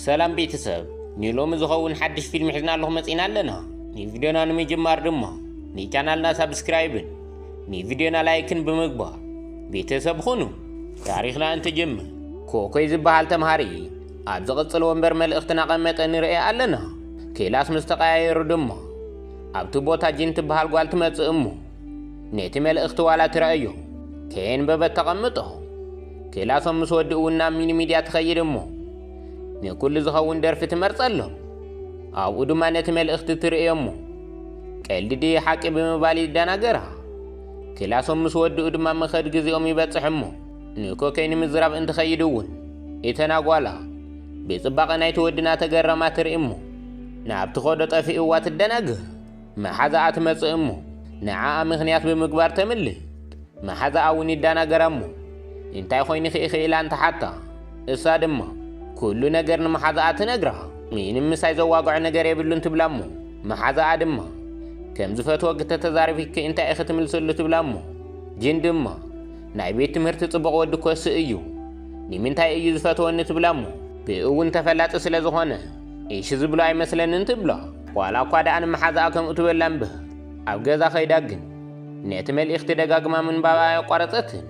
ሰላም ቤተሰብ ንሎሚ ዝኸውን ሓድሽ ፊልም ሒዝና ኣለኹ መጺና ኣለና ንቪድዮና ንምጅማር ድማ ንቻናልና ሳብስክራይብን ንቪድዮና ላይክን ብምግባር ቤተሰብ ኹኑ ታሪኽና እንትጅምር ኮኮይ ዝበሃል ተምሃሪ ኣብ ዝቕጽል ወንበር መልእኽቲ ናቐመጠ ንርእየ ኣለና ክላስ ምስ ተቐያየሩ ድማ ኣብቲ ቦታ ጂን ትበሃል ጓል ትመጽእ እሞ ነቲ መልእኽቲ ዋላ ትረኣዮ ከየንበበት ተቐምጦ። ክላሶም ምስ ወድኡ እውን ናብ ሚኒ ሚድያ ትኸይድ እሞ ንኩሉ ዝኸውን ደርፊ ትመርጸሎም። ኣብኡ ድማ ነቲ መልእኽቲ ትርእዮ እሞ ቀልዲ ድየ ሓቂ ብምባል ይደናገራ። ክላሶም ምስ ወድኡ ድማ መኸድ ግዜኦም ይበጽሕ እሞ ንኮከይ ንምዝራብ እንትኸይድ እውን እተን ኣጓላ ብጽባቐ ናይቲ ወዲ እናተገረማ ትርኢ እሞ ናብቲ ኾዶ ጠፊእዋ ትደናገር። መሓዛኣ ትመጽእ እሞ ንዓኣ ምኽንያት ብምግባር ተምልጥ። መሓዛኣ እውን ይደናገራ እሞ እንታይ ኾይንኺ ኢኺ ኢላ እንትሓታ እሳ ድማ ኩሉ ነገር ንመሓዛኣ ትነግራ። ምንም ምሳይ ዘዋግዖ ነገር የብሉን ትብላ እሞ መሓዛኣ ድማ ከም ዝፈትዎ ክተተዛረቢኪ እንታይ ኢኺ ትምልስሉ ትብላ እሞ ጅን ድማ ናይ ቤት ትምህርቲ ጽቡቕ ወዲ ኮሲ እዩ ንምንታይ እዩ ዝፈትወኒ ትብላ እሞ ብእውን ተፈላጢ ስለ ዝኾነ ኢሺ ዝብሎ ኣይመስለንን ትብሎ ዋላ እኳ ደኣ ንመሓዛኣ ከምኡ ትበላ እምበር ኣብ ገዛ ከይዳ ግን ነቲ መልእኽቲ ደጋግማ ምንባባ ኣየቋረጸትን።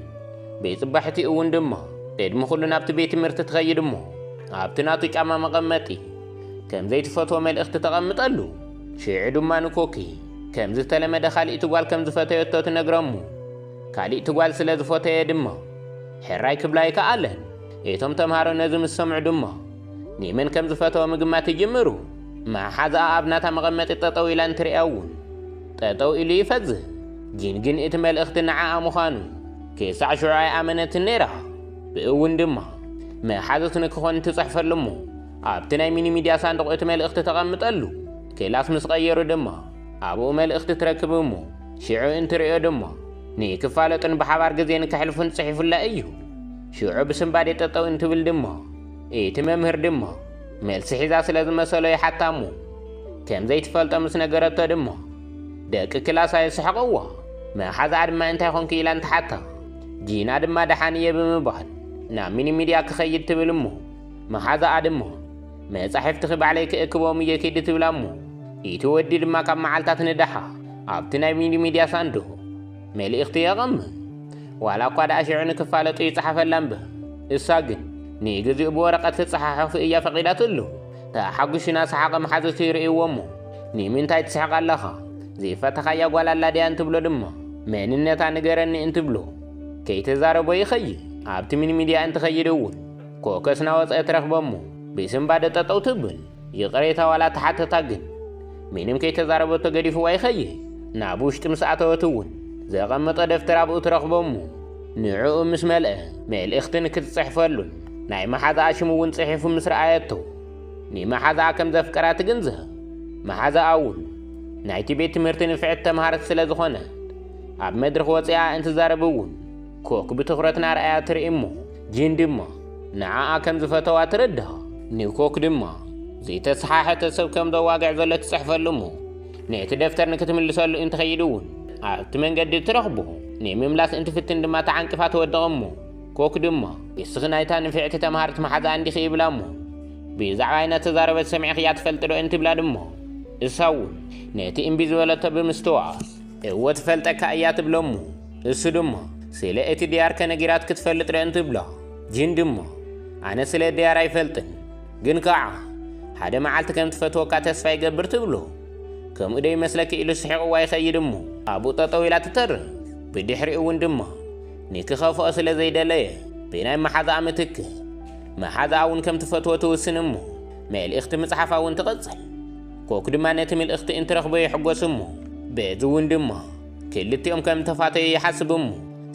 ቤት ጽባሒቲ እውን ድማ ቅድሚ ኩሉ ናብቲ ቤት ትምህርቲ ትኸይድ እሞ ኣብቲ ናቱ ጫማ መቐመጢ ከም ዘይትፈትዎ መልእኽቲ ተቐምጠሉ። ሽዑ ድማ ንኮኪ ከም ዝተለመደ ካሊእቲ ጓል ከም ዝፈተየቶ ትነግሮ እሞ ካሊእቲ ጓል ስለ ዝፈተየ ድማ ሕራይ ክብላ ኣይከኣለን። እቶም ተምሃሮ ነዚ ምስ ሰምዑ ድማ ኒምን ከም ዝፈተወ ምግማት ይጅምሩ። መሓዝኣ ኣብ ናታ መቐመጢ ጠጠው ኢላ እንትርእያ እውን ጠጠው ኢሉ ይፈዝህ። ጂን ግን እቲ መልእኽቲ ንዓኣ ምዃኑ ክሳዕ ሽዑ ኣይኣመነትን ነይራ። ብእውን ድማ መሓዙት ንክኾን ትጽሕፈሉ እሞ ኣብቲ ናይ ሚኒ ሚድያ ሳንዱቕ እቲ መልእኽቲ ተቐምጠሉ። ክላስ ምስ ቐየሩ ድማ ኣብኡ መልእኽቲ ትረክብ እሞ ሽዑ እንትርእዮ ድማ ንክፋለጡን ብሓባር ግዜ ንከሕልፉን ጽሒፉላ እዩ። ሽዑ ብስንባዴ ጠጠው እንትብል ድማ እቲ መምህር ድማ መልሲ ሒዛ ስለ ዝመሰሎ ይሓታ እሞ ከም ዘይትፈልጦ ምስ ነገረቶ ድማ ደቂ ክላስ ኣየስሕቐዋ መሓዛኣ ድማ እንታይ ኮንኪ ኢላ እንትሓታ ጂና ድማ ደሓን እየ ብምባል ናብ ሚኒ ሚድያ ክኸይድ ትብል እሞ መሓዛኣ ድማ መጻሕፍትኺ ባዕለይ ክእክቦም እየ ኪዲ ትብላ እሞ እቲ ወዲ ድማ ካብ መዓልታት ንደሓ ኣብቲ ናይ ሚኒ ሚድያ ሳንዱቕ መልእኽቲ የቐምም። ዋላ እኳ ደኣ ሽዑ ንክፋለጡ ይጸሓፈላ እምበ፣ እሳ ግን ንግዜኡ ብወረቐት ክጸሓሑፍ እያ ፈቒዳትሉ። ተሓጒሱና ሰሓቐ መሓዙቱ ይርእይዎ እሞ፣ ንምንታይ ትስሕቕ ኣለኻ? ዘይፈተኻያ ጓል ኣላ ድያ እንትብሎ ድማ፣ መንነታ ንገረኒ እንትብሎ፣ ከይተዛረቦ ይኸይድ። ኣብቲ ሚኒሚድያ እንትኸይድ እውን ኮከስ ናወጸ ትረኽቦ እሞ፣ ብስንባደ ጠጠው ትብል። ይቕሬታ ዋላ ተሓተታ ግን ምንም ከይተዛረበቶ ገዲፍዋ ይኸይድ። ናብ ውሽጢ ምስ ኣተወት እውን ዘቐመጦ ደፍተር ኣብኡ ትረኽቦ እሞ ንዕኡ ምስ መልአ መልእኽቲ ንክትጽሕፈሉን ናይ መሓዛኣ ሽም እውን ጽሒፉ ምስ ረኣየቶ ንመሓዛኣ ከም ዘፍቀራ ትግንዘብ። መሓዛኣ እውን ናይቲ ቤት ትምህርቲ ንፍዕቲ ተምሃርት ስለ ዝኾነት ኣብ መድርኽ ወጺኣ እንትዛረብ እውን ኮክ ብትኹረት ናርኣያ ትርኢ እሞ ጂን ድማ ንዓኣ ከም ዝፈተዋ ትርድኣ። ንኮክ ድማ ዘይተሰሓሐተ ሰብ ከም ዘዋግዕ ዘሎ ትጽሕፈሉ እሞ ነቲ ደፍተር ንክትምልሰሉ እንትኸይድ እውን ኣብቲ መንገዲ ትረኽቦ። ንምምላስ እንትፍትን ድማ ተዓንቅፋ ትወድቕ እሞ ኮክ ድማ ንስኺ ናይታ ንፍዕቲ ተምሃሪት መሓዛኣ እንዲኺ ይብላ እሞ ብዛዕባይ እናተዛረበት ሰሚዕኽያ ትፈልጢ ዶ እንትብላ ድማ እሳ እውን ነቲ እምቢ ዝበለቶ ብምስትውዓል እወ ትፈልጠካ እያ ትብሎ እሞ እሱ ድማ ስለ እቲ ድያር ከነጊራት ክትፈልጥ ዶ እንትብሎ ጂን ድማ ኣነ ስለ ድያር ኣይፈልጥን ግን ከዓ ሓደ መዓልቲ ከም ትፈትወካ ተስፋ ይገብር ትብሎ ከምኡ ዶ ይመስለኪ ኢሉ ስሒቕዋ ይኸይድ እሞ ኣብኡ ጠጠው ኢላ ትተርፍ ብድሕሪኡ እውን ድማ ንክኸፍኦ ስለ ዘይደለየ ብናይ መሓዛኣ ምትክ መሓዛኣ እውን ከም ትፈትዎ ትውስን እሞ መልእኽቲ ምፅሓፋ እውን ትቕፅል ኮክ ድማ ነቲ ምልእኽቲ እንትረኽቦ ይሕጎስ እሞ በዚ እውን ድማ ክልቲኦም ከም ተፋተዩ ይሓስቡ እሞ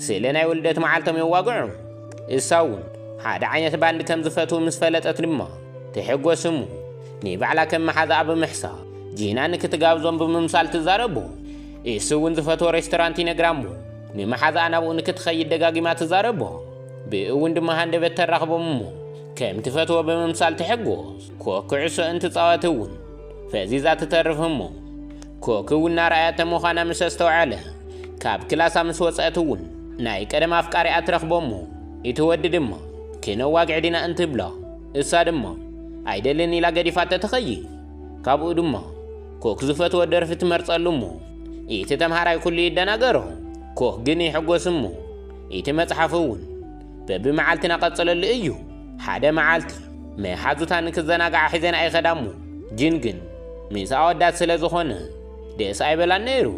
ስለ ናይ ውልደት መዓልቶም የዋግዑ። እሳ እውን ሓደ ዓይነት ባንድ ከም ዝፈትዉ ምስ ፈለጠት ድማ ትሕጎስ እሞ ንባዕላ ከም መሓዛኣ ብምሕሳብ ጂና ንክትጋብዞም ብምምሳል ትዛረቦ። እሱ እውን ዝፈትዎ ሬስቶራንት ይነግራ እሞ ንመሓዛኣ ናብኡ ንክትኸይድ ደጋጊማ ትዛረቦ። ብእኡ እውን ድማ ሃንደበት ተራኽቦም እሞ ከም ትፈትዎ ብምምሳል ትሕጎስ። ኮክ ኩዕሶ እንትጻወት እውን ፈዚዛ ትተርፍ እሞ ኮክ እውን ናርኣያተ ምዃና ምስ ኣስተውዓለ ካብ ክላሳ ምስ ወፀእት እውን ናይ ቀደም ኣፍቃሪኣ ትረኽቦ እሞ እቲ ወዲ ድማ ክነዋግዕ ዲና እንትብላ እሳ ድማ ኣይደልን ኢላ ገዲፋቶ ትኸይድ ካብኡ ድማ ኮክ ዝፈትዎ ደርፊ ትመርጸሉ እሞ እቲ ተምሃራይ ኩሉ ይደናገሮ ኮክ ግን ይሕጎስ እሞ እቲ መጽሓፍ እውን በብመዓልቲና ቀጽለሉ እዩ። ሓደ መዓልቲ መሓዙታ ንክዘናግዓ ሒዘንኣ ይኸዳ እሞ ጂን ግን ምስ ኣወዳት ስለ ዝኾነ ደስ ኣይበላን ነይሩ።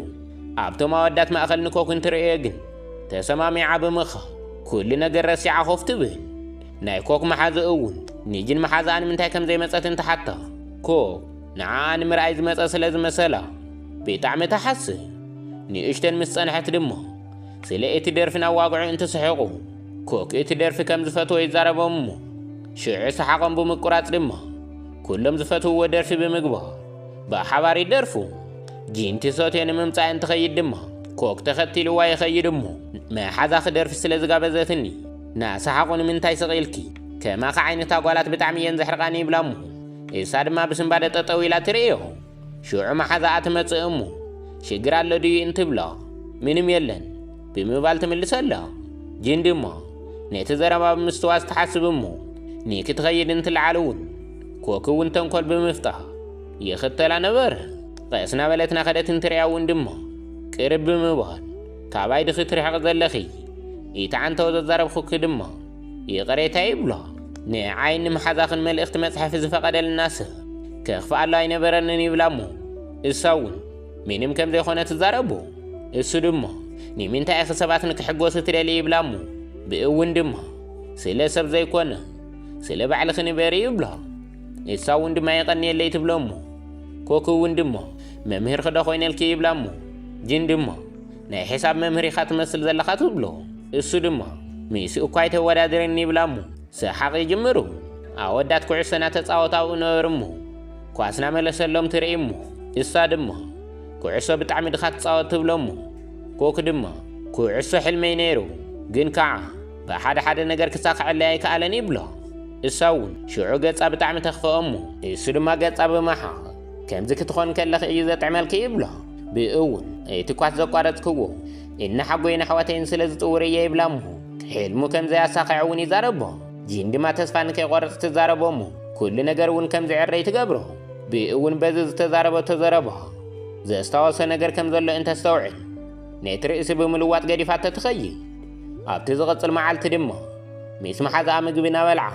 ኣብቶም ኣወዳት ማእከል ንኮክ እንትርእዮ ግን ተሰማሚዓ ብምኻድ ኩሉ ነገር ረሲዓ ኮፍ ትብል። ናይ ኮክ መሓዙ እውን ንጂን መሓዝኣ ንምንታይ ከም ዘይመጸት እንትሓታ ኮክ ንዓኣ ንምርኣይ ዝመጸ ስለ ዝመሰላ ብጣዕሚ ትሓስብ። ንእሽተን ምስ ጸንሐት ድማ ስለ እቲ ደርፊ ነዋግዑ እንትስሕቑ፣ ኮክ እቲ ደርፊ ከም ዝፈትዎ ይዛረቦም እሞ፣ ሽዑ ሰሓቖም ብምቁራጽ ድማ ኩሎም ዝፈትውዎ ደርፊ ብምግባር ብሓባር ይደርፉ። ጂን ቲሶቴ ንምምጻእ እንትኸይድ ድማ ኮክ ተኸቲልዋ ይኸይድ እሞ፣ መሓዛ ክደርፊ ስለ ዝጋበዘትኒ ናሰሓቑ ንምንታይ ስቕ ኢልኪ? ከማኺ ዓይነት ኣጓላት ብጣዕሚ እየን ዘሕርቓኒ ይብላ እሞ፣ እሳ ድማ ብስንባደ ጠጠው ኢላ ትርእዮ። ሽዑ መሓዛኣ ትመጽእ እሞ ሽግር ኣሎ ድዩ እንትብሎ ምንም የለን ብምባል ትምልሰሎ ጅን ድማ ነቲ ዘረባ ብምስትዋስ ትሓስብ እሞ ኒኪ ትኸይድ እንትልዓል እውን ኮኪ እውን ተንኮል ብምፍጣር ይኽተላ ነበረ ቐስ ናበለት ናኸደት እንትርያ እውን ድማ ቅርብ ብምባል ካባይ ድኺ ትርሕቕ ዘለኺ ኢቲ ዓንተወ ዘዛረብኹኪ ድማ ይቕሬታ ይብሎ ንዓይ ንምሓዛኽን መልእኽቲ መጽሐፊ ዝፈቐደልና ሰብ ከኽፍኣሉ ኣይነበረንን ይብላ እሞ እሳ እውን ምንም ከም ዘይኮነ ትዛረቡ እሱ ድማ ንምንታይ ኢኺ ሰባት ንክሕጎሱ ትደሊ ይብላ እሞ ብእውን ድማ ስለ ሰብ ዘይኮነ ስለ ባዕልኺ ንበሪ ይብሎ እሳ እውን ድማ የቐንየለይ ትብሎ እሞ ኮክ እውን ድማ መምህርኺ ዶ ኮይነልኪ ይብላ እሞ ጅን ድማ ናይ ሒሳብ መምህር ኢኻ ትመስል ዘለኻ ትብሎ። እሱ ድማ ሚእሱ እኳ ኣይተወዳድርን ይብላ እሞ ሰሓቕ ይጅምሩ። ኣወዳት ኩዕሶ ናተጻወቱ ኣብኡ ነበሩ እሞ ኳስ ናመለሰሎም ትርኢ እሞ እሳ ድማ ኩዕሶ ብጣዕሚ ድኻ ትጻወት ትብሎ እሞ ኮክ ድማ ኩዕሶ ሕልመይ ነይሩ ግን ካዓ ብሓደ ሓደ ነገር ክሳኸዐለይ ኣይከኣለን ይብሎ። እሳ እውን ሽዑ ገጻ ብጣዕሚ ተኽፈኦ እሞ እሱ ድማ ገጻ ብምሓ ከምዚ ክትኾን ከለኺ እዩ ዘጥዕመልኪ ይብሎ። ብእውን እቲ ኳስ ዘቋረጽክዎ እና ሓጎይን ኣሕዋተይን ስለ ዝጽውር እየ ይብላ እሞ ሕልሙ ከም ዘያሳኸዐ እውን ይዛረቦ። ጂን ድማ ተስፋ ንከይቆርጽ ትዛረቦ እሞ ኩሉ ነገር እውን ከም ዝዕረይ ትገብሮ። ብእውን በዚ ዝተዛረበቶ ዘረባ ዘስታወሶ ነገር ከም ዘሎ እንተስተውዕል ነቲ ርእሲ ብምልዋጥ ገዲፋቶ ትኸይድ። ኣብቲ ዝቕጽል መዓልቲ ድማ ምስ መሓዛኣ ምግቢ እናበልዓ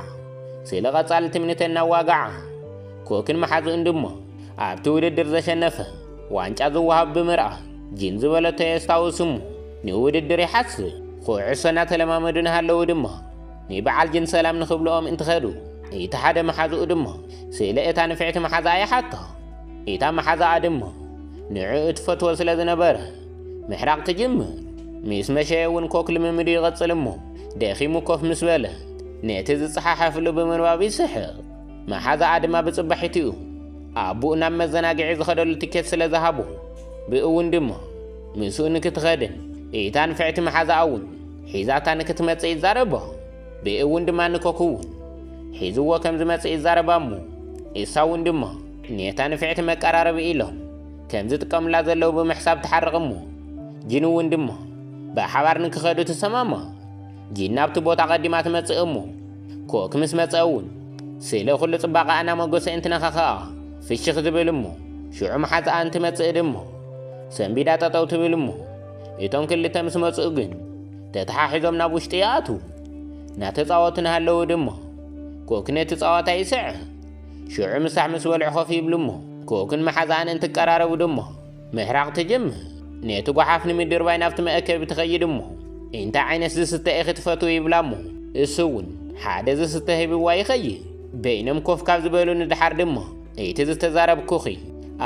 ስለ ቐጻሊ ትምኒተን እናዋግዓ ኮክን መሓዝእን ድሞ ኣብቲ ውድድር ዘሸነፈ ዋንጫ ዝወሃብ ብምርኣይ ጂን ዝበለቶ የስታውስ እሞ ንውድድር ይሓስብ። ኩዕሶ እናተለማመዱ ንሃለዉ ድማ ንበዓል ጂን ሰላም ንክብልኦም እንትኸዱ እቲ ሓደ መሓዝኡ ድማ ስለ እታ ንፍዕቲ መሓዝኣ ይሓቶ። እታ መሓዝኣ ድማ ንዕኡ ትፈትዎ ስለ ዝነበረ ምሕራቕ ትጅምር። ምስ መሸየ እውን ኮክ ልምምዱ ይቕጽል እሞ ደኺሙ ኮፍ ምስ በለ ነቲ ዝጸሓሓፍሉ ብምንባብ ይስሕቕ። መሓዛኣ ድማ ብጽባሒትኡ ኣቡኡ ናብ መዘናግዒ ዝኸደሉ ትኬት ስለ ዝሃቡ ብእውን ድማ ምስኡ ንክትኸድን እታ ንፍዕቲ መሓዛኣ እውን ሒዛታ ንክትመጽእ ይዛረባ ብእውን ድማ ንኮክ እውን ሒዝዎ ከም ዝመጽእ ይዛረባ እሞ እሳ እውን ድማ ኔታ ንፍዕቲ መቀራረቢ ኢሎም ከም ዝጥቀሙላ ዘለዉ ብምሕሳብ ትሓርቕ እሞ ጅን እውን ድማ ብሓባር ንክኸዱ ትሰማማ ጂን ናብቲ ቦታ ቀዲማ ትመጽእ እሞ ኮክ ምስ መጸ እውን ስለ ኩሉ ጽባቐኣ እናመጎሰ እንትነኻኸኣ ፍሽኽ ዝብል እሞ ሽዑ መሓዝኣ እንትመጽእ ድማ ሰንቢዳ ጠጠው ትብል እሞ እቶም ክልተ ምስ መጽኡ ግን ተተሓሒዞም ናብ ውሽጢ ይኣትዉ እናተጻወቱ እናሃለዉ ድማ ኮክ ነቲ ጸዋታ ይስዕር ሽዑ ምሳሕ ምስ በልዑ ኮፍ ይብሉ እሞ ኮክን መሓዝኣን እንትቀራረቡ ድማ ምሕራቕ ትጅምር። ነቲ ጓሓፍ ንምድርባይ ናብቲ መእከቢ ትኸይድ እሞ፣ እንታይ ዓይነት ዝስተ ኢኺ ትፈትዊ ይብላ እሞ፣ እሱ እውን ሓደ ዝስተ ሂብዋ ይኸይድ። በይኖም ኮፍ ካብ ዝበሉ ንድሓር ድማ፣ እቲ ዝተዛረብኩኺ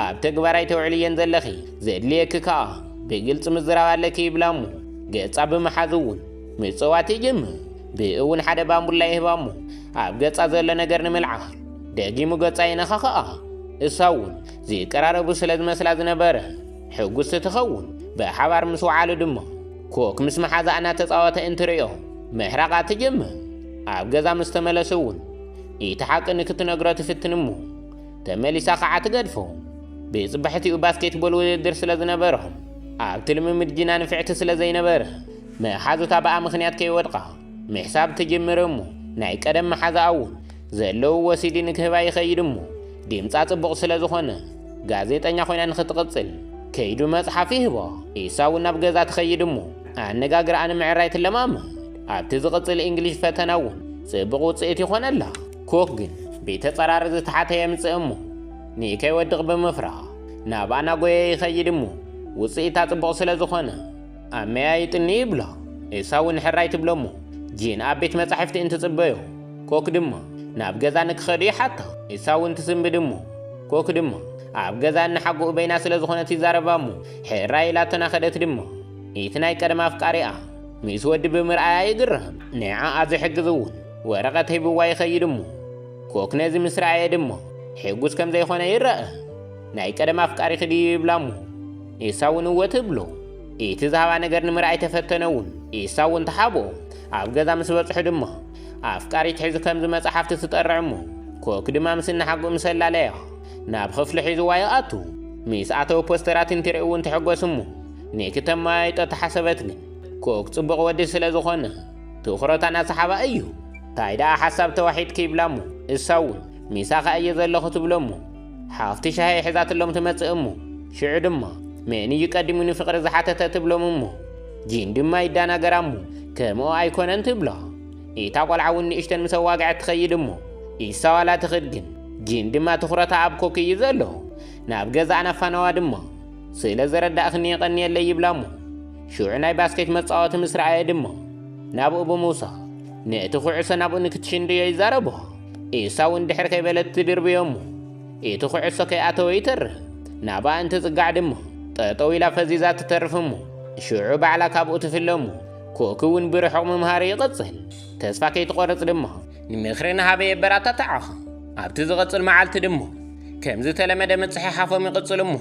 ኣብ ተግባር ኣይተውዕልዮን ዘለኺ፣ ዘድልየኪ ከኣ ብግልጺ ምዝራብ ኣለኪ ይብላ እሞ፣ ገጻ ብምሓዝ እውን ምጽዋት ይጅምር። ብኡ እውን ሓደ ባምቡላ ይህባ እሞ፣ ኣብ ገጻ ዘሎ ነገር ንምልዓል ደጊሙ ገጻ የነኻኽኣ። እሳ እውን ዚቀራረቡ ስለ ዝመስላ ዝነበረ። ሕጉስቲ ትኸውን፣ ብሓባር ምስ ወዓሉ ድማ። ኮክ ምስ መሓዛኣ እናተጻወተ እንትርእዮ ምሕራቓ ትጅምር። ኣብ ገዛ ምስ ተመለሱ እውን እቲ ሓቂ ንክትነግሮ ትፍትን እሞ ተመሊሳ ኸዓ ትገድፎ። ብጽባሒትኡ ባስኬትቦል ውድድር ስለ ዝነበሮም ኣብቲ ልምምድ ጂና ንፍዕቲ ስለ ዘይነበረ መሓዙታ ብኣ ምኽንያት ከይወድቓ ምሕሳብ ትጅምር እሞ ናይ ቀደም መሓዛኣ እውን ዘለው ወሲዲ ንክህባ ይኸይድ እሞ ዲምጻ ጽቡቕ ስለ ዝኾነ ጋዜጠኛ ኮይና ንክትቕጽል ከይዱ መጽሓፍ ይህቦ ኢሳ እውን ናብ ገዛ ትኸይድ እሞ ኣነጋግርኣ ንምዕራይ ትለማመድ ኣብቲ ዝቕጽል ኢንግሊሽ ፈተና እውን ጽቡቕ ውጽኢት ይኾነላ ኮክ ግን ብተጸራሪ ዝተሓተ የምጽእ እሞ ንከይወድቕ ብምፍራ ናብ ኣናጎየ ይኸይድ እሞ ውጽኢታ ጽቡቕ ስለ ዝኾነ ኣመያ ይጥኒ ይብሎ እሳው ንሕራይ ትብሎ እሞ ጂን ኣብ ቤት መጻሕፍቲ እንትጽበዮ ኮክ ድማ ናብ ገዛ ንክኸዱ ይሓታ እሳው እንትስንብድ እሞ ኮክ ድማ ኣብ ገዛ እንሓጎኡ በይና ስለ ዝኾነት ይዛረባ እሞ ሕራይ ኢላ ተናኸደት ድማ እቲ ናይ ቀደም ኣፍቃሪኣ ምስ ወዲ ብምርኣያ ይግረም ንዓኣ ዝሕግዝ እውን ወረቐት ሂብዋ ይኸይድ እሞ ኮክ ነዚ ምስ ረኣየ ድማ ሕጉስ ከም ዘይኾነ ይረኣ ናይ ቀደም ኣፍቃሪኺ ድዩ ይብላ እሞ ንሳ እውን እወ ትብሎ። እቲ ዝሃባ ነገር ንምርኣይ ተፈተነ እውን ኢሳ እውን ተሓብኦ። ኣብ ገዛ ምስ በጽሑ ድማ ኣፍቃሪት ሒዙ ከምዚ መጽሓፍቲ ትጠርዕ እሞ ኮክ ድማ ምስ እናሓግኡ ምስ ኣላለያ ናብ ኽፍሉ ሒዝዋ ይኣቱ። ምስ ኣተወ ፖስተራት እንትርኢ እውን ትሕጎስ እሞ ንክተመያይጦ ተሓሰበት ግን ኮክ ጽቡቕ ወዲ ስለ ዝኾነ ትኹረታ እናሰሓባ እዩ። ታይ ደኣ ሓሳብ ተዋሒጥኪ ይብላ እሞ እሳ እውን ምሳኺ ኣየ ዘለኹ ትብሎ እሞ ሓፍቲ ሻሂ ሒዛትሎም ትመጽእ እሞ ሽዑ ድማ መን እዩ ቀዲሙ ንፍቕሪ ዝሓተተ ትብሎም እሞ ጂን ድማ ይዳናገራ እሞ ከምኦ ኣይኮነን ትብላ ኢታ ቆልዓ እውን ንእሽተን ምስ ኣዋግዐት ትኸይድ እሞ ኢሳዋላ ትኽድ ግን ጂን ድማ ትኹረታ ኣብ ኮክ እዩ ዘሎ ናብ ገዛ ኣናፋናዋ ድማ ስለ ዘረዳእኽኒ የቐንየለይ ይብላ እሞ ሽዑ ናይ ባስኬት መጻወቲ ምስ ረኣየ ድማ ናብኡ ብምውሳ ነቲ ኩዕሶ ናብኡ ንክትሽንድዮ ይዛረቦ ኤሳው እንድሕር ከይበለት ትድርብዮ እሞ እቲ ኩዕሶ ከይኣተወ ይተርፍ። ናብኣ እንትጽጋዕ ድማ ጠጠው ኢላ ፈዚዛ ትተርፍ እሞ ሽዑ ባዕላ ካብኡ ትፍለ እሞ ኮኪ እውን ብርሑቕ ምምሃሩ ይቕጽል። ተስፋ ከይትቖርጽ ድማ ንምኽሪ ንሃበ የበራታትዓኻ። ኣብቲ ዝቕጽል መዓልቲ ድማ ከም ዝተለመደ ምጽሕሓፎም ይቕጽሉ እሞ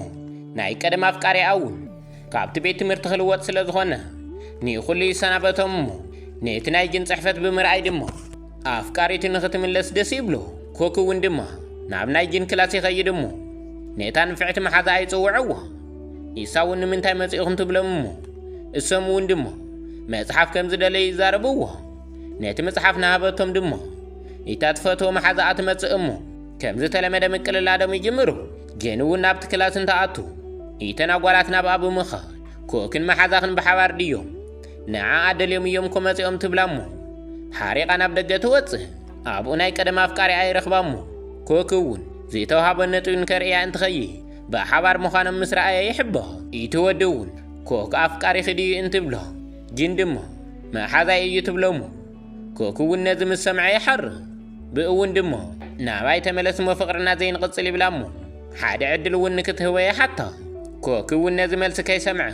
ናይ ቀደም ኣፍቃሪኣ እውን ካብቲ ቤት ትምህርቲ ክልወጥ ስለ ዝኾነ ንኹሉ ይሰናበቶም እሞ ነቲ ናይ ጅን ጽሕፈት ብምርኣይ ድማ ኣፍቃሪቱ ንኽትምለስ ደስ ይብሎ፣ ኮክ እውን ድማ ናብ ናይ ጂን ክላስ ይኸይድ እሞ ነታ ንፍዕቲ መሓዛኣ ይጽውዕዎ። ኢሳ እውን ንምንታይ መጺእኹም ትብሎም እሞ እሶም እውን ድማ መጽሓፍ ከም ዝደለዩ ይዛረብዎ። ነቲ መጽሓፍ ንሃበቶም ድማ እታ ትፈትዎ መሓዛኣ ትመጽእ እሞ ከም ዝተለመደ ምቅልላዶም ይጅምሩ። ጂን እውን ናብቲ ክላስ እንትኣቱ ኢተን ኣጓላት ናብኣ ብምኻድ ኮክን መሓዛኽን ብሓባር ድዮም ንዓኣ ደልዮም እዮም እኮ መጺኦም ትብላ እሞ ሓሪቓ ናብ ደገ ትወጽእ ኣብኡ ናይ ቀደም ኣፍቃሪኣ ይረኽባ እሞ ኮክ እውን ዝተውሃቦ ነጥቢ ንከርእያ እንትኸይድ ብሓባር ምዃኖም ምስ ረኣየ ይሕበ እቲ ወዲ እውን ኮክ ኣፍቃሪኺ ድዩ እንትብሎ ግን ድማ መሓዛይ እዩ ትብሎ እሞ ኮኩውን ነዚ ምስ ሰምዐ ይሓርም ብእውን ድሞ ናባይ ተመለስሞ ፍቕርና ዘይንቕጽል ይብላ እሞ ሓደ ዕድል እውን ንክትህቦ ይሓታ ኮኩውን ነዚ መልሲ ከይሰምዐ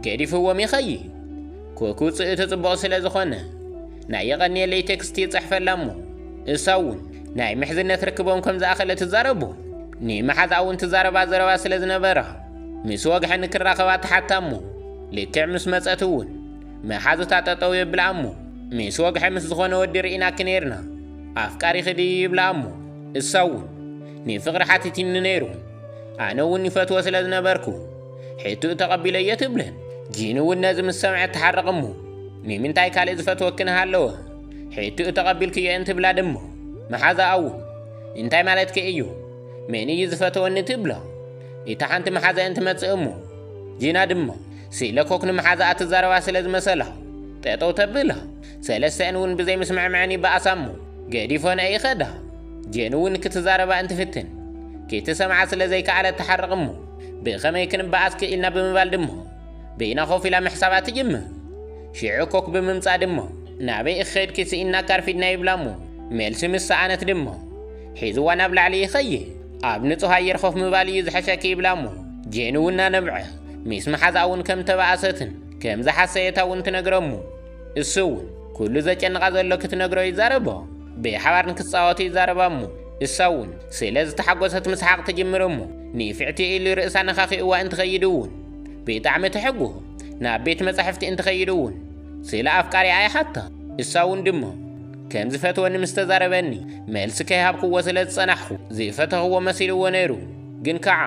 ገዲፍዎም ይኸይድ ኮኩ ጽእቲ ጽቡቕ ስለ ዝኾነ ናይ የቐንየለይ ቴክስቲ ይጽሕፈላ እሞ እሳ እውን ናይ ምሕዝነት ርክቦም ከም ዝኣኸለ ትዛረቡ ንመሓዝኣ እውን ትዛረባ ዘረባ ስለ ዝነበራ ምስ ወግሐ ንክራኸባ ተሓታ እሞ ልክዕ ምስ መጸት እውን መሓዙታ ጠጠው የብላ እሞ ምስ ወግሐ ምስ ዝኾነ ወዲ ርኢናኪ ነይርና ኣፍቃሪኺ ድዩ ይብላ እሞ እሳ እውን ንፍቕሪ ሓቲቲኒ ነይሩ ኣነ እውን ይፈትዎ ስለ ዝነበርኩ ሕትኡ ተቐቢለዮ ትብለን ጂኑ እውን ነዚ ምስ ሰምዐት ትሓርቕ እሞ ንምንታይ ካልእ ዝፈትወኪ ንሃለወ ሕትኡ ተቐቢልክዮ እንትብላ ድማ መሓዛኣ እውን እንታይ ማለትኪ እዩ መን እዩ ዝፈተወኒ ትብላ እታ ሓንቲ መሓዘ እንትመፅእ እሞ ጂና ድማ ሲለ ኮክ ንመሓዛኣ ትዛረባ ስለ ዝመሰላ ጠጠው ተብላ። ሰለስተኣን እውን ብዘይምስምዕምዐን ይበኣሳ እሞ ገዲፎንኦ ይኸዳ። ጄን እውን ክትዛረባ እንትፍትን ክትሰምዓ ስለ ዘይከኣለት ትሓርቕ እሞ ብኸመይ ክንበኣስ ክኢልና ብምባል ድማ በይና ኮፍ ኢላ ምሕሳባ ትጅምር። ሽዑ ኮክ ብምምጻእ ድማ ናበይ ኢኺ ከድኪ ስኢንና ካርፊድና ይብላ እሞ መልሲ ምስ ሰኣነት ድማ ሒዝዋ ናብ ላዕሊ ይኸይድ። ኣብ ንጹህ ኣየር ኮፍ ምባል እዩ ዝሐሸኪ ይብላ እሞ ጄን እውን ናነብዐ ሚስ መሓዛኣውን ከም ተባኣሰትን ከም ዝሓሰየታ እውን ትነግረ እሞ እሱ እውን ኩሉ ዘጨንቓ ዘሎ ክትነግሮ ይዛረቦ ብሓባር ንክፃወቱ ይዛረባ እሞ እሳ እውን ስለ ዝተሓጎሰት ምስሓቕ ትጅምር እሞ ንፍዕቲ ኢሉ ርእሳ ነኻኺእዋ እንትኸይድ እውን ብጣዕሚ ትሕጎ ናብ ቤት መጻሕፍቲ እንትኸይድ እውን ስለ ኣፍቃሪኣ ይሓታ እሳ እውን ድሞ ከም ዝፈትወኒ ምስ ተዛረበኒ መልሲ ከይሃብክዎ ስለ ዝጸናሕኹ ዝፈተኽዎ መሲልዎ ነይሩ ግን ከዓ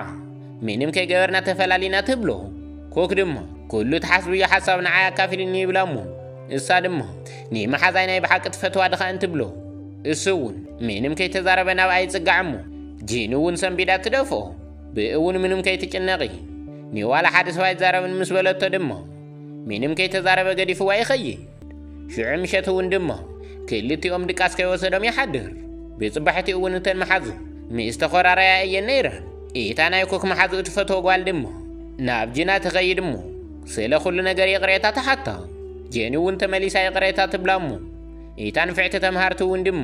ምንም ከይገበርና ተፈላሊና ትብሎ ኮክ ድማ ኩሉ ትሓስብዮ ሓሳብ ንዓይ ኣካፊልኒ ይብላ እሞ እሳ ድማ ንመሓዛይ ናይ ብሓቂ ትፈትዋ ድኻ እንትብሎ እሱ እውን ምንም ከይተዛረበ ናብኣ ይጽጋዕ እሞ ጂኑ እውን ሰንቢዳ ትደፍኦ ብእውን ምንም ከይትጭነቒ ንዋላ ሓደ ሰው ኣይዛረብን ምስ በለቶ ድማ ምንም ከይተዛረበ ገዲፍዋ ይኸይድ። ሽዑ ምሸት እውን ድሞ ክልቲኦም ድቃስ ከይወሰዶም ይሓድር። ብጽባሕቲ እውን እተን መሓዙ ምስ ተኾራረያ እየን ነይረን። እታ ናይ ኮክ መሓዙ እትፈትዎ ጓል ድሞ ናብ ጅና ትኸይድ እሞ ስለ ኩሉ ነገር ይቕሬታ ትሓታ። ጀኒ እውን ተመሊሳ ይቕሬታ ትብላ እሞ እታ ንፍዕቲ ተምሃርቲ እውን ድሞ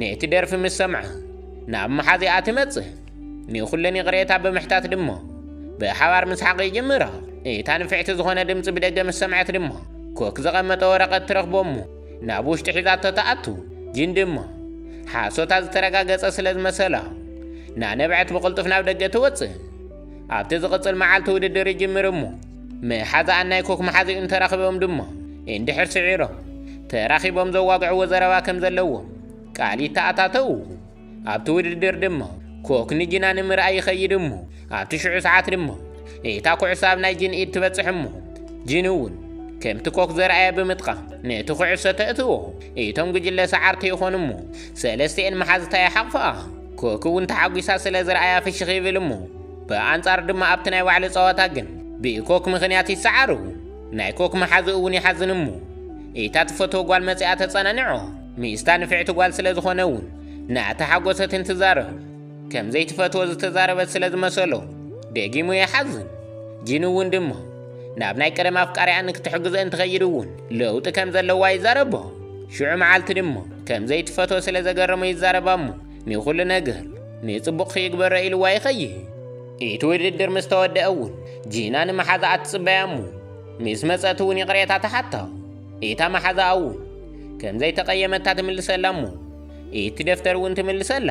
ነቲ ደርፊ ምስ ሰምዓ ናብ መሓዚኣ ትመጽእ። ንኹለን ይቕሬታ ብምሕታት ድሞ ብሓባር ምስሓቕ ይጅምራ። እታ ንፍዕቲ ዝኾነ ድምፂ ብደገ ምስ ሰምዐት ድሞ ኮክ ዘቐመጠ ወረቐት ትረኽቦ እሞ ናብ ውሽጢ ሒዛቶ ትኣቱ። ግን ድሞ ሓሶታ ዝተረጋገፀ ስለ ዝመሰላ ናነብዐት ብቕልጡፍ ናብ ደገ ትወፅእ። ኣብቲ ዝቕፅል መዓልቲ ውድድር ይጅምር እሞ መሓዛኣን ናይ ኮክ መሓዚኡ እንተረኽቦም ድሞ እንድሕር ስዒሮም ተራኺቦም ዘዋግዕዎ ዘረባ ከም ዘለዎም ቃል ይተኣታተዉ። ኣብቲ ውድድር ድማ ኮክ ንጅና ንምርኣይ ይኸይድ እሞ ኣብቲ ሽዑ ሰዓት ድማ እታ ኩዕሶ ኣብ ናይ ጅን ኢድ ትበጽሕ እሞ ጅን እውን ከምቲ ኮክ ዘርኣየ ብምጥቃም ነቲ ኩዕሶ ተእትዎ እቶም ጉጅለ ሰዓርቲ ይኾኑ እሞ ሰለስቲኤን መሓዝታ ይሓቕፍኣ ኮክ እውን ተሓጒሳ ስለ ዝረኣያ ፍሽኽ ይብል እሞ ብኣንጻር ድማ ኣብቲ ናይ ባዕሉ ጸዋታ ግን ብኮክ ምኽንያት ይሰዓሩ ናይ ኮክ መሓዝኡ እውን ይሓዝን እሞ እታ ትፈትዎ ጓል መጺኣ ተጸናንዖ ሚስታ ንፍዕቲ ጓል ስለ ዝኾነ እውን እናተሓጎሰት እንትዛረብ ከም ዘይትፈትዎ ዝተዛረበት ስለ ዝመሰሎ ደጊሙ ይሓዝን። ጂን እውን ድማ ናብ ናይ ቀደም ኣፍቃሪያ ንክትሕግዞ እንትኸይድ እውን ለውጢ ከም ዘለዋ ይዛረቦ። ሽዑ መዓልቲ ድማ ከም ዘይትፈትዎ ስለ ዘገረሞ ይዛረባ እሞ ንኹሉ ነገር ንጽቡቕ ክይግበሮ ኢልዋ ይኸይድ። እቲ ውድድር ምስ ተወደአ እውን ጂና ንመሓዛኣ ትጽበያ እሞ ምስ መጸት እውን ይቕሬታ ትሓታ። እታ መሓዛኣ እውን ከም ዘይተቐየመታ ትምልሰላ እሞ እቲ ደፍተር እውን ትምልሰላ።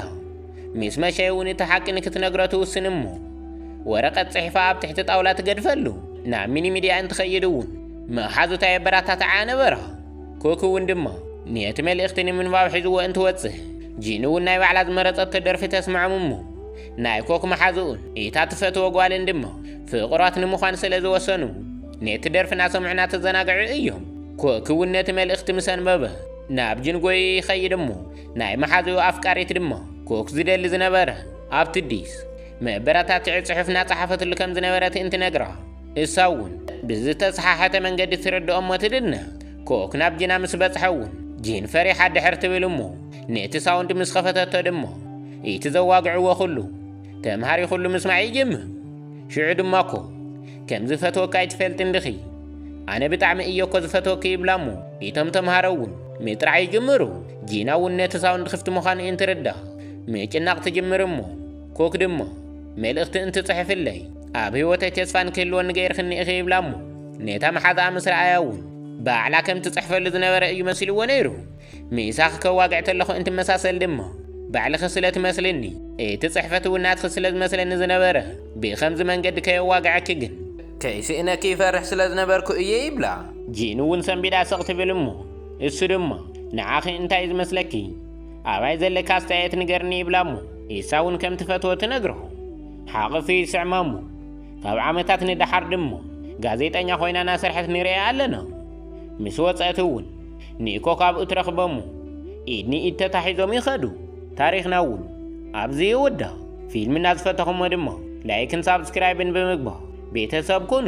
ምስ መሸ እውን እቲ ሓቂ ንክትነግሮ ትውስን እሞ ወረቐት ጽሒፋ ኣብ ትሕቲ ጣውላ ትገድፈሉ። ናብ ሚኒ ሚድያ እንትኸይድ እውን መሓዙታ የበረታትዓኣ ነበራ። ኩክ እውን ድማ ነቲ መልእኽቲ ንምንባብ ሒዝዎ እንትወጽእ ጂን እውን ናይ ባዕላ ዝመረጸቶ ደርፊ ተስምዖም እሞ ናይ ኮክ መሓዝኡን እታ ትፈትዎ ጓልን ድማ ፍቑራት ንምዃን ስለ ዝወሰኑ ነቲ ደርፊ እናሰምዑና ተዘናግዑ እዮም። ኮክውን ነቲ መልእኽቲ ምስ ኣንበበ ናብ ጅንጎይ ይኸይድ እሞ ናይ መሓዝኡ ኣፍቃሪት ድማ ኮክ ዝደሊ ዝነበረ ኣብ ትዲስ መበረታትዒ ጽሑፍ እናጸሓፈትሉ ከም ዝነበረት እንትነግራ እሳ እውን ብዝተሰሓሐተ መንገዲ ትርድኦ እሞ ትድነ ኮክ ናብ ጂና ምስ በጽሐ እውን ጂን ፈሪሓ ድሕር ትብል እሞ ነቲ ሳውንድ ምስ ኸፈተቶ ድማ እቲ ዘዋግዕዎ ኩሉ ተምሃሪ ኩሉ ምስማዕ ይጅምር ሽዑ ድማ ኮክ ከም ዝፈትወካ ኣይትፈልጥን ድኺ ኣነ ብጣዕሚ እየ እኮ ዝፈትወኪ ይብላ እሞ ኢቶም ተምሃሮ እውን ምጥራዕ ይጅምሩ ጂና እውን ነቲ ሳውንድ ክፍቲ ምዃኑ እንትርዳ ምጭናቕ ትጅምር እሞ ኮክ ድማ መልእኽቲ እንትጽሕፍለይ ኣብ ህይወተይ ተስፋ ንክህልወኒ ገይርክኒ ኢኺ ይብላ እሞ ነታ መሓዛኣ ምስ ረኣያ እውን ባዕላ ከም ትጽሕፈሉ ዝነበረ እዩ መሲልዎ ነይሩ ምሳኺ ከዋግዕ ተለኹ እንትመሳሰል ድማ ባዕልኺ ስለ ትመስልኒ እቲ ጽሕፈት እውን ናትኺ ስለ ዝመስለኒ ዝነበረ ብኸምዚ መንገዲ ከየዋግዐኪ ግን ከይስእነኪ ይፈርሕ ስለ ዝነበርኩ እየ ይብላ። ጂን እውን ሰንቢዳ ስቕ ትብል እሞ እሱ ድማ ንዓኺ እንታይ ዝመስለኪ ኣባይ ዘለኪ ኣስተያየት ንገርኒ ይብላ እሞ ኢሳ እውን ከም ትፈትዎ ትነግሮ ሓቕፊ ይስዕማ እሞ ካብ ዓመታት ንደሓር ድማ ጋዜጠኛ ኮይና ናሰርሐት ንርእያ ኣለና ምስ ወጸእት እውን ኒኮ ካብኡ ትረኽበሙ ኢድ ንኢድ ተታሒዞም ይኸዱ ታሪኽና እውን ኣብዚ ይውዳእ ፊልምና ዝፈተኹሞ ድማ ላይክን ሳብስክራይብን ብምግባር ቤተሰብ ኩኑ